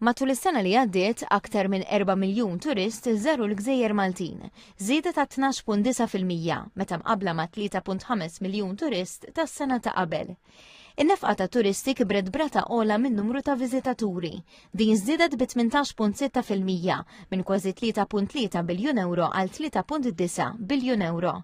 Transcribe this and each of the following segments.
Matul is-sena li għaddiet, aktar minn 4 miljun turist żaru l-gżejjer Maltin, żieda ta' 12.9 fil-mija meta mqabbla ma' 3.5 miljun turist tas-sena ta' qabel. In-nefqa ta' turisti kibret brata ola minn numru ta' viżitaturi. Din żdiedet bi 18.6 fil-mija minn kważi 3.3 biljun euro għal 3.9 biljun euro.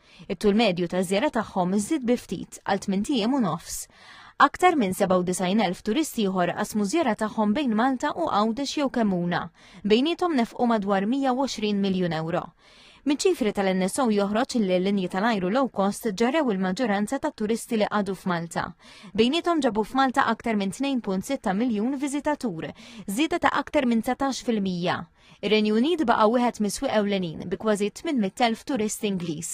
It-tul medju ta' żjara tagħhom iżdied bi ftit għal 8 ijiem u nofs. Aktar minn 97,000 turisti ieħor qasmu żjara tagħhom bejn Malta u Għawdex jew Kemmuna. Bejniethom nefqu madwar 120 miljun ewro. Miċ-ċifri tal-NSO joħroġ li l-linji tal-ajru low cost ġarrew il-maġġoranza ta' turisti li qadu f'Malta. Bejnietom ġabu f'Malta aktar minn 2.6 miljun viżitatur, żieda ta' aktar minn 19%. Ir-Renju Unit baqa' wieħed mis-swieq ewlenin bi kważi 800,000 turist Ingliż.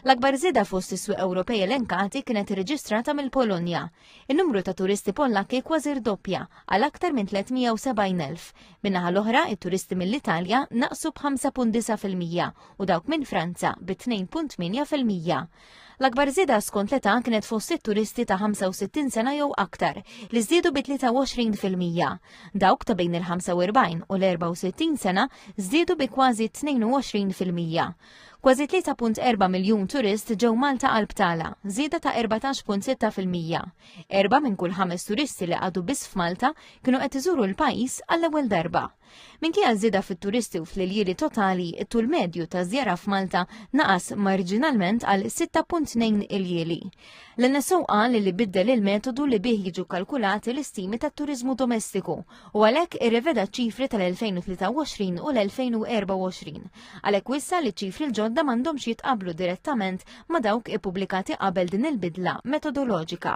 L-akbar żieda fost is-swieq Ewropej elenkati kienet irreġistrata mill-Polonja. In-numru ta' turisti Pollakki kważi rdoppja għal aktar minn 370,000. Min-naħa l-oħra, it-turisti mill-Italja naqsu b'5.9 fil-mija u dawk minn Franza bi 2.8 fil-mija. L-akbar żieda skont l-età kienet fost it-turisti ta' 65 sena jew aktar, li żdiedu bi 23 fil-mija. Dawk ta' bejn il-45 u l-64 sena żdiedu bi kważi 22 fil-mija. Kważi 3.4 miljun turist ġew Malta għal btala, żieda ta' 14.6 fil-mija. Erba' minn kull ħames turisti li għadu biss f'Malta kienu qed iżuru l-pajjiż għall-ewwel darba. Minkejja żieda fit-turisti u fl-iljieli totali, it-tul medju ta' żjara f'Malta naqas marġinalment għal 6.2 iljieli. L-NSO qal li biddel il-metodu li bih jiġu kalkulati l-istimi tat-turiżmu domestiku u għalhekk irreveda ċifri tal-2023 u l-2024. Għalhekk wissa li ċifri l-ġodda m'għandhomx jitqablu direttament ma' dawk ippubblikati qabel din il-bidla metodoloġika.